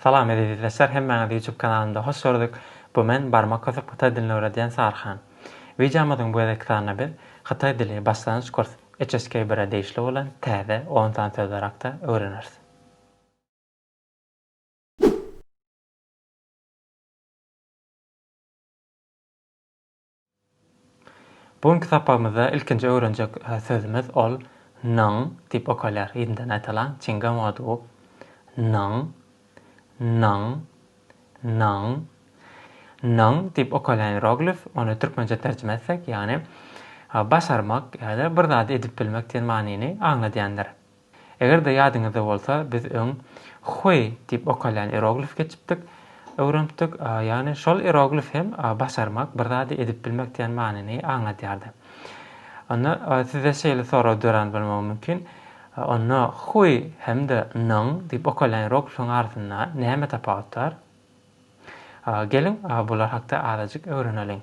Salam ezizizleşler hemmäňizi ýutub kanalymda hoş gördük bu men barmak kösüp hytaý dilini öwredýän sarhan. Wideomyzyň bu gezekki sanynda biz hytaý dili başlangyç kurs HSK bire degişli bolan täze on sany sözler hakda öwreneris. Bu günki sapagymyzda ilkinji öwrenjek sözümiz ol nyň diýip okalýar. Ýerinden aýdalyň. Çingem odu. Nyň. Nyň. Nyň. Nyň diýip okalýan ieroglif, ony türkmençe terjime etsek, ýagny başarmak ýa-da bir zady edip bilmek diýen manyny aňladýandyr. Eger-de ýadyňyzda bolsa, biz öň Hui diýip okalýan ieroglif geçipdik, öwrenipdik. Ýagny şol ieroglif hem başarmak, bir zady edip bilmek diýen manyny aňladýardy. Onda sizde şeýle sorag dörän bolmagy mümkin, Onda Hui hem-de Nong diýip okalýan ieroglifiň arasynda näme tapawut bar? Geliň, bular hakda azajyk öwreneliň.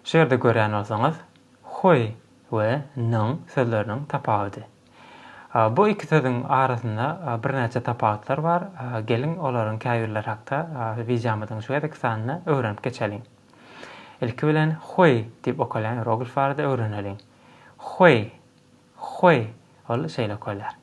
Şu ýerde görýän bolsaňyz, hui we nyň sözleriniň tapawudy. Bu iki sözüň arasynda birnäçe tapawutlar bar, geliň olaryň käbirleri hakda wideomyzyň şu gezeki sanynda öwrenip geçeliň. Ilki bilen hui diýip okalýan ieroglif barada öwreneliň. Hui, Hweý, ol şeýle köler.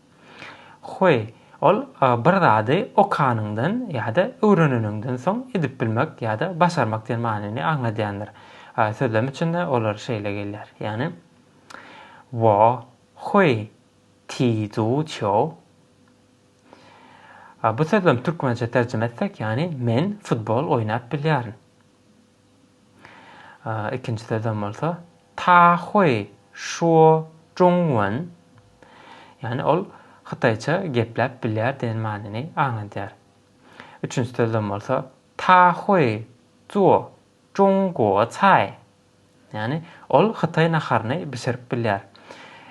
Hweý, ol bir zady okanyňdan ýa-da öwreneniňden soň edip bilmek ýa-da başarmak diýen manyny aňladýandyr. Sözlem üçin-de olar şeýle gelýär, ýagny, Wo hweý ti zu çýou. Bu sözlemi türkmençe terjime etsek, ýagny, Men futbol oýnap bilýärin. Ikinji sözem bolsa Ta Hui Shuo Zhong Wen, ýagny ol hytaýça gepläp bilýär diýen manyny aňladýar. Üçünji sözem bolsa Ta Hui Zuo Zhong Guo Cai, ýagny ol hytaý naharyny bişirip bilýär.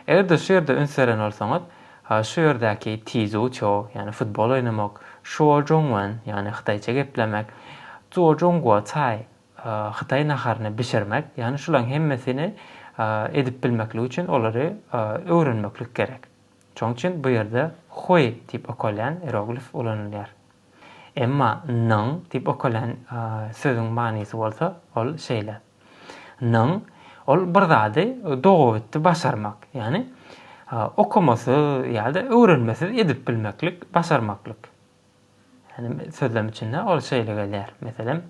Eger-de şu ýerde üns beren bolsaňyz, Ha şu ýerdäki Tizu Ço, ýagny futbol oýnamak, Şuo Jong Wen, ýagny hytaýça geplemek, Zuo Jong Guo Cai, hytaý naharyny bişirmek, ýagny şularyň hemmesini edip bilmeklik üçin olary öwrenmeklik gerek. Şonuň üçin bu ýerde Hui diýip okalýan ieroglif ulanylýar. Emma Nyň diýip okalýan sözüň manysy bolsa ol şeýle. Nyň, ol bir zady dogabitdi başarmak, ýagny okamasyz ýa-da öwrenmesiz edip bilmeklik, başarmaklyk. Ýagny sözlem içinde ol şeýle gelýär, meselem,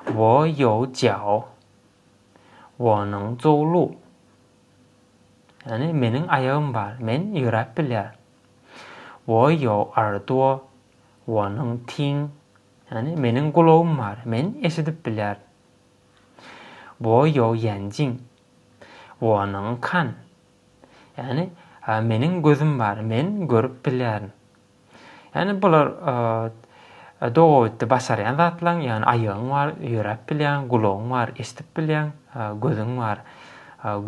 Wo ýou jiao, wonyň zou lu. Ýagny meniň aýagym bar, men ýöräp bilýär. Wo ýou er duo, wonyň ting, ýagny meniň gulagym bar, men eşidip bilýär, Wo ýou ýanjin. Wonyň kan. Ýagny, meniň gözüm bar, men görüp bilýärin. Ýagny, bular dogabitdi başarýan zatlaň, ýagny aýagyň bar, ýöräp bilýäň, gulagyň bar, eşidip bilýäň, gözüň bar,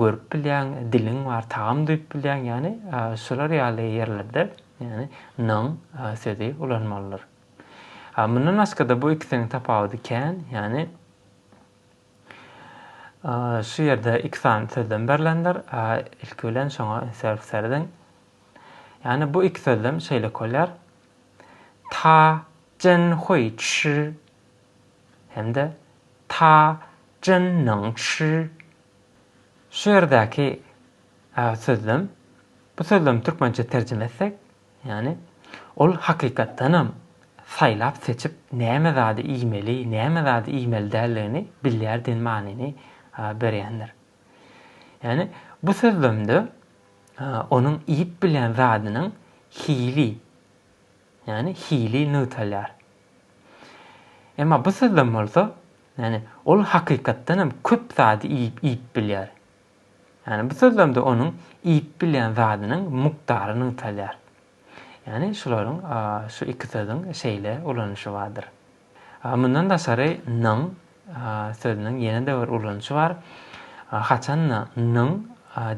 görüp bilýäň, diliň bar, tagam duýup bilýäň, ýagny, şular ýaly ýerlerde, ýagny, nyň sözi ulanmalydyr. A mundan başga-da bu ikisiniň tapawudy kän, ýagny şu ýerde iki sany sözlem berlendir. A ilki bilen şoňa serp serediň. Ýagny bu iki sözlem şeýle bolýar. Ta jen hui çi hem-de ta jen ning çi. Şu ýerdäki sözlem, bu sözlem türkmençe terjime etsek, Ýagny, ol hakykatdanam saýlap-seçip näme zady iýmeli, näme zady iýmeli däldigini bilýär diýen manyny berýändir. Ýagny, bu sözlemde onuň iýip bilýän zadynyň hili, ýagny hili nygtalýar. Emma bu sözlem bolsa, ýagny, ol hakykatdanam köp zady iýip bilýär. Ýagny bu sözlemde onuň iýip bilýän zadynyň mukdary nygtalýar. Ýagny şularyň, şu iki sözüň şeýle ulanyşy bardyr. Mundan daşary nyň sözüniň ýene-de bir ulanyşy bar. Haçan-da nyň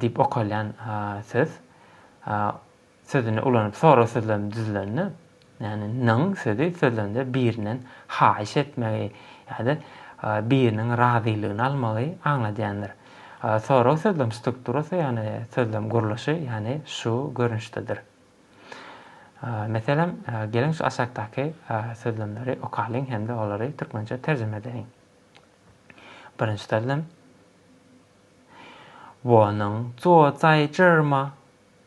diýip okalýan söz sözüni ulanyp soraz sözlem düzülende, ýagny nyň sözi sözlende birinden haýyş etmegi ýa-da biriniň razylygyny almagy aňladýandyr. Sorag sözlem strukturasy ýagny sözlem gurluşy ýagny şu görnüşdedir. Meselem, geliň şu aşakdaky sözlemleri okalyň hem-de olary türkmençe terjime edeliň. Birinji sözlem. Wo nyň zuo zai zhi ma?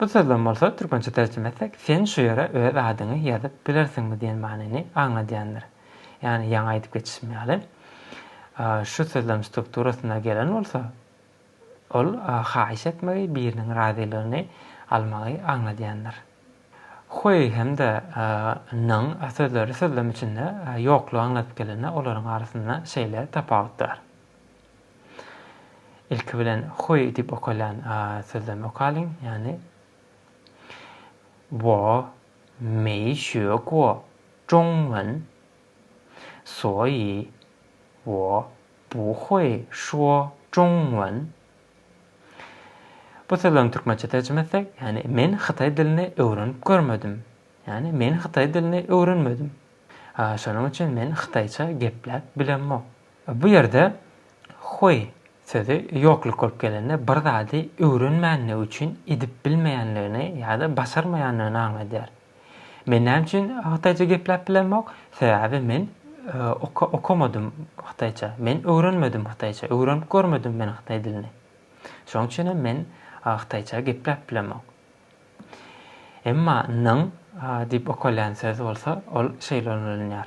Bu sözlem bolsa türkmençe terjime etsek sen şu ýere öz adyňy ýazyp bilersiňmi diýen manyny aňladýandyr. Ýagny ýaňy aýdyp geçişim ýaly şu sözlem strukturasynda gelen bolsa ol haýyş etmegi biriniň razylygyny almagy aňladýandyr. Huý hem-de nyň sözleri sözlem içinde ýoklugy aňladyp gelende olaryň arasynda şeýle tapawut bar. Ilki bilen huý diýip okalýan sözden okalyň, ýagny wo meý şüýe guo zhong men, suoýi wo bu huý şuo zhong wen. Bu sözlerini türkmençe terjime etsek, ýagny men hytaý dilini öwrenip görmedim, ýagny men hytaý dilini öwrenmedim, şonuň üçin men hytaýça gepläp bilemok. Bu ýerde Huý sözi ýokluk bolup gelende bir zady öwrenmänligi üçin edip bilmeýänligini ýa-da başarmaýanlygyny aňladýar. Men näme üçin hytaýça gepläp bilemok? Sebäbi men okamadym hytaýça, men öwrenmedim hytaýça, öwrenip görmedim men hytaý dilini. Şonuň üçin hem men hytaýça gepläp bilemok. Emma nyň diýip okalýan söz bolsa ol şeýle ulanylýar.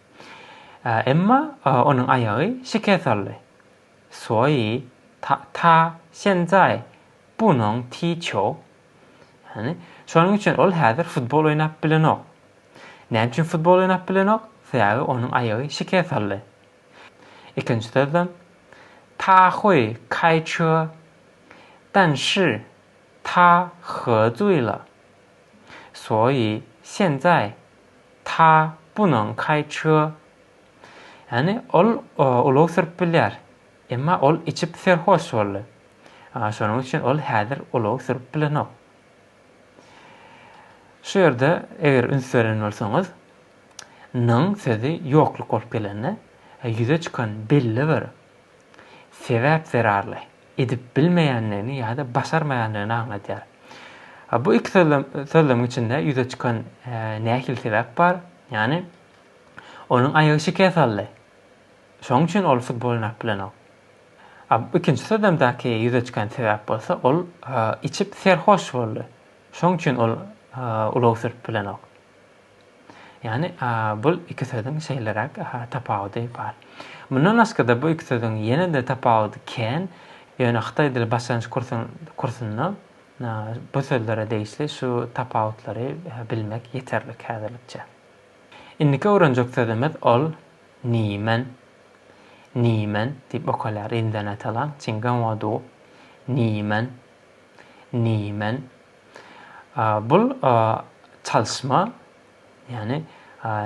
Emma onuň aýagy şikes aldy. Suoýi Ta şenzaý bunoň ti çou. Ýagny, şonuň üçin ol häzir futbol oýnap bilenok. Näme üçin futbol oýnap bilenok? Sebäbi onuň aýagy şikes aldy. Ikinji sözlem Ta hui kai çö, dan şi ta he zui le. Suoýi şenzaý Ta bunuň kaýçy. Ýani ol ulag sürüp bilýär. Emma ol içip serhoş boldy. Şonuň üçin ol häzir ulag sürüp bilenok. Şu ýerde eger üns beren bolsaňyz, nyň sözi ýokluk bolup gelende ýüze çykan belli bir sebäp zerarly. edip bilmeýändigini ýa-da başarmaýandygyny aňladýar. Bu iki sözlemiň içinde ýüze çykan nähili sebäp bar? Ýagny, onuň aýagy şikes aldy. Şonuň üçin ol futbol oýnap bilenok. Ikinji sözlemdäki ýüze çykan sebäp bolsa, ol içip serhoş boldy. Şonuň üçin ol ulag sürüp bilenok. Ýagny, bul iki sözüň şeýleräk tapawudy bar. Mundan başga-da bu iki sözüň ýene-de tapawudy kän, ýöne hytaý dili başlangyç kursunda bu sözlere degişli şu tapawutlary bilmek ýeterlik häzirlikçe. Indiki öwrenjek sözümiz ol Nimen, Nimen, diýip okalýar indonetalaň Çingan Waduw, Nimen, Nimen. Bul çalyşma, ýagny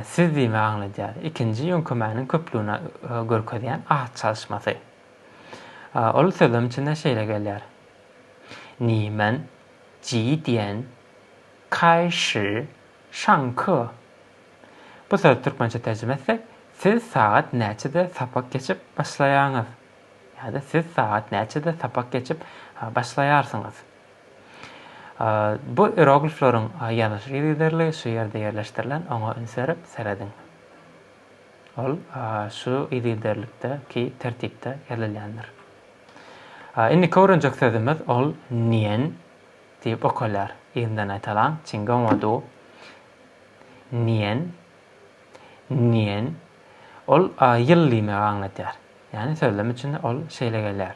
siz diýmegi aňladýar. Ikinji ýöňkemäniň köplügini görkezýän at çalyşmasy. Ol sözlem içinde şeýle gelýär. Nimen, ji dian, kai shi, şan ke. Bu sözi türkmençe terjime etsek, siz sagat näçede sapak geçip başlaýaňyz? ýa-da siz sagat näçede sapak geçip başlaýarsyňyz? Bu ieroglifleriň ýazylyş ýygyderligi şu ýerde ýerleşdirilen, oňa üns berip serediň. Ol şu ýygyderlikdäki tertipde ýazylýandyr. Indiki öwrenjek sözümiz ol Niýen diýip okalýar. Yzyndan aýdalaň, Çingonwadu, Niýen, Niýen. Ol ýyl diýmegi aňladýar. Ýagny sözlem içinde ol şeýle gelýär.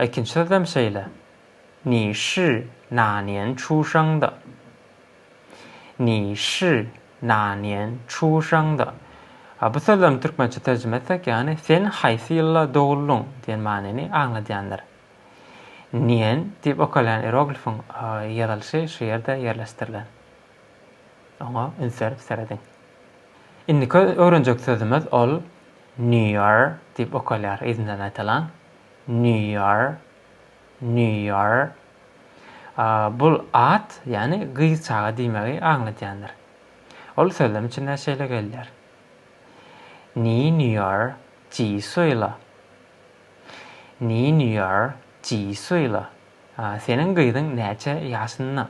Ikinji sözlem şeýle, Ni shi na nian chu shang de. Ni shi na nian chu shang de. Bu sözlemi türkmençe terjime etsek, ýagny Sen haýsy ýylda doguldyň? diýen manyny aňladýandyr. Nian diýip okalýan ieroglifiň ýazylyşy şu ýerde ýerleşdirilen. Oňa üns berip serediň. Indiki öwrenjek sözümiz ol New Year diýip okalýar, yzyndan aýtalan. New Year. New Year. Bul at, ýagny gyz çaga diýmegi aňladýandyr. Ol sözlem içinde şeýle gelýär. Ni New Year ji suýla. Ni New Year ji suýla. Seniň gyzyň näçe ýaşynda?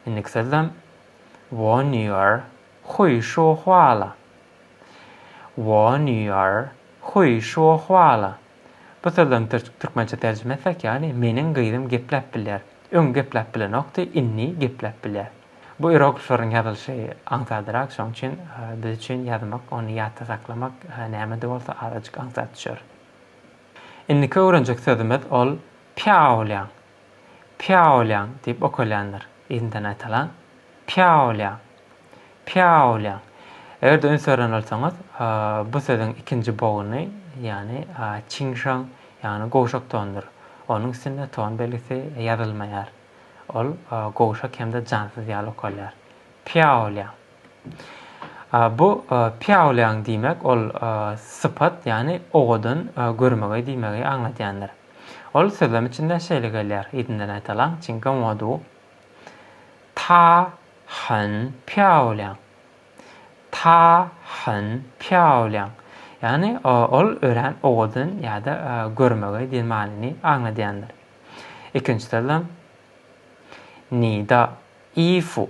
Indiki sözlem Wonior Huý şu hwala Wonior Huý şu hwala Bu sözleriň türkmençe terjime etsek ýany Meniň gyzym gepläp bilýär. Öň gepläp bilenokdy, indi gepläp bilýär. Bu iroglifleriň ýazylyşy aňsadrak, şoň üçin biz üçin ýazmak, ony ýatda saklamak näme-de bolsa azajyk aňsat düşer. Indiki öwrenjek sözümiz ol Pýawlýaň. Pýaolýaň diýip okalýandyr. Yzyndan aýtalan, Pýaolýaň. Pýaolýaň. Eger-de üns beren bolsaňyz, bu sözüň ikinji bogny, ýagny çiňşaň, ýagny gowşak tondur. Onuň üstünde ton belgisi ýazylmaýar. Ol gowşak hem-de jansyz ýaly okalýar. Pýaolýaň. Bu piaoliang diýmek ol sypat, ýagny owadan görmegi diýmegi aňladýandyr. Ol sözlem içinden şeýle gelýär, yzyndan aýdalyň, Çingan Wodu, Ta hen piaoliang, Ta hen piaoliang, ýagny ol örän owadan ýa-da görmegi diýen manyny aňladýandyr. Ikinji sözlem Ni da Yi Fu,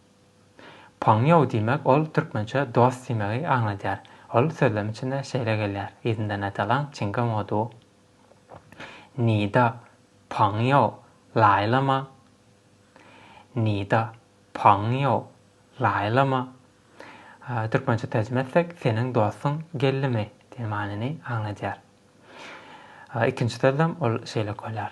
Pongýou diýmek ol türkmençe dost diýmegi aňladýar. Ol sözlem içinde şeýle gelýär, yzyndan atalaň çingam odu. Ni de pongýou lai le ma? Ni de pongýou lai le ma? Türkmençe terjime etsek, seniň dostuň geldimi? diýen manyny aňladýar. Ikinji sözlem ol şeýle gelýär.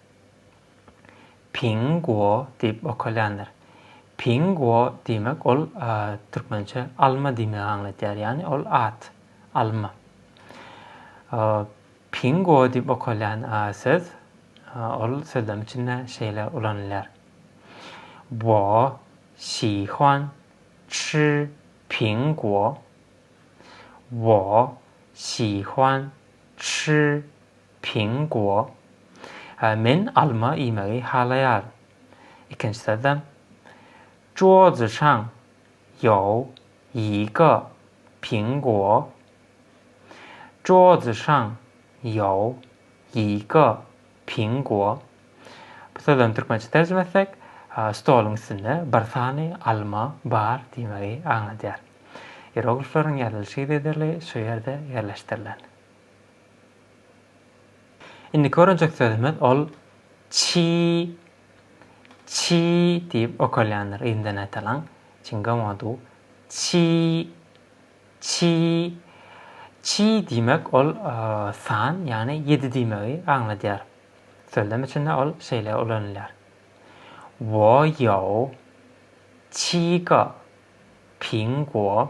Ping guo diýip okalýandyr. Ping guo diýmek ol türkmençe alma diýmegi aňladýar. Ýagny ol at, alma. Ping guo diýip okalýan söz ol sözlem içinde şeýle ulanylýar. Wo xi huan chi ping guo. Wo xi huan chi Ping Guo, Men alma iýmegi halaýaryn. Ikinji sözlem, Zhuo Zishang you yi ge ping guo, Zhuo Zishang you yi ge ping guo. Bu sözlem türkmençe terjime etsek, Stoluň üstünde bir sany alma bar diýmegi aňladýar. Ieroglifleriň ýazylyş yzygiderligi şu ýerde ýerleşdirilen. Indiki öwrenjek sözümiz ol çi çi diýip okalýandyr yzyndan aýtalyň çingom odu çi çi çi diýmek ol san ýagny ýedi diýmegi aňladýar sözlem içinde ol şeýle ulanylýar wo ýou çi ge ping guo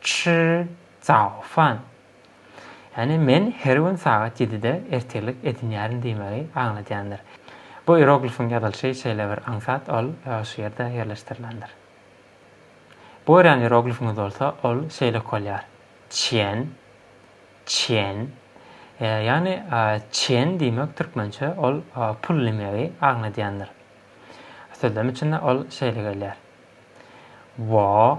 Çy, Cao Fan. Ýagny men her gün sagat ýedide ertirlik edinýärin diýmegi aňladýandyr. Bu ieroglifiň ýazylyşy şeýle bir aňsat, ol şu ýerde ýerleşdirilendir. Bu görýän ieroglifiňiz bolsa, ol şeýlek bolýar, Çiýen, Çiýen. Ýagny çiýen diýmek türkmençe ol pul diýmegi aňladýandyr. Sözlem içinde ol şeýle gelýär, Wo,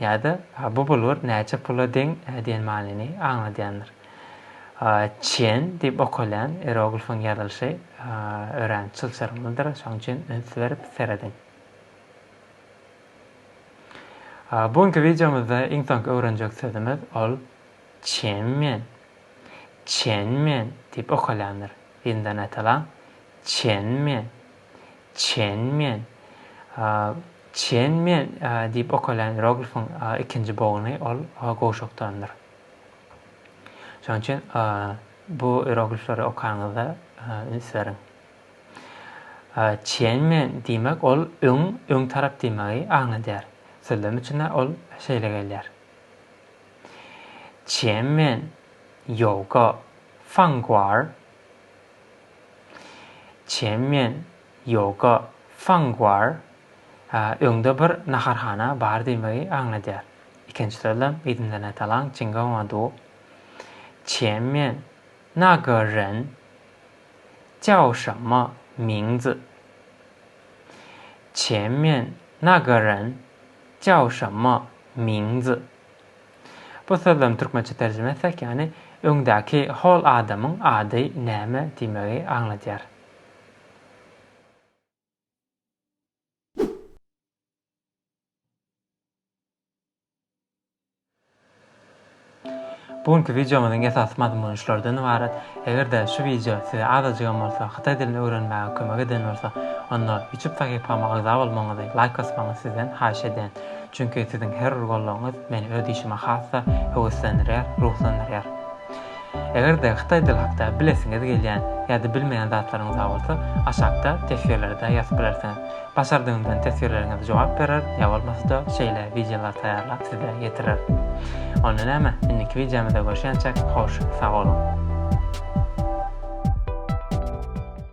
Ýa-da bu bulgur näçe pula deň diýen manyny aňladýandyr. Çen diýip okalýan ieroglifyň ýazylyşy örän çylşyrymlydyr, şonuň üçin üns berip serediň. Bu günki wideomyzda iň soňky öwrenjek sözümiz ol çenmen. Çenmen diýip okalýandyr. Ýyndanaýtalaň, çenmen. Çen Mian. Çen Mian diýip okalýan ieroglifiň ikinji boguny ol gowşakdandyr. Şonuň üçin bu ieroglifleri okaňyzda üns beriň. Çen Mian diýmek ol öň, öň tarap diýmegi aňladýar. Sözlem üçin-ä ol şeýle gelýär. Çen Mian Ýoga Fangguar Çem men Ýoga Fang War öňde bir naharhana bar diýmegi aňladýar. Ikinji sözlem Yzyndanä Talang Çingaoa Du Çem men Na Ge Ren Jiao Şemme Ming Zi Çem men Na Ge Ren Jiao Şemme Ming Zi Bu sözlem türkmençe terjime etsek ýany öňdäki hol adamyň ady näme diýmegi aňladýar. Bu günki wideomyzyň esasy mazmuny şulardan ybarat. Eger-de şu wideo size azajygam bolsa hytaý dilini öwrenmäge kömek eden bolsa onda ýutup sahypama agza bolmagyňyzy, laýk basmagyňyzy sizden haýyş edýän. Çünki siziň her bir goldawyňyz meni öz işime has-da höweslendirýär, ruhlandyrýar. Eger-de hytaý dili hakda bilesiňiz gelýän ýa-da bilmeýän zatlaryňyz bar bolsa, aşakda teswirlerde ýazyp bilersiňiz. Başardygymdan teswirleriňize jogap berer, ýa bolmasa-da şeýle wideolar taýýarlap size ýetirer. Onda näme, indiki wideomyzda görşýänçäk, hoş, sag boluň!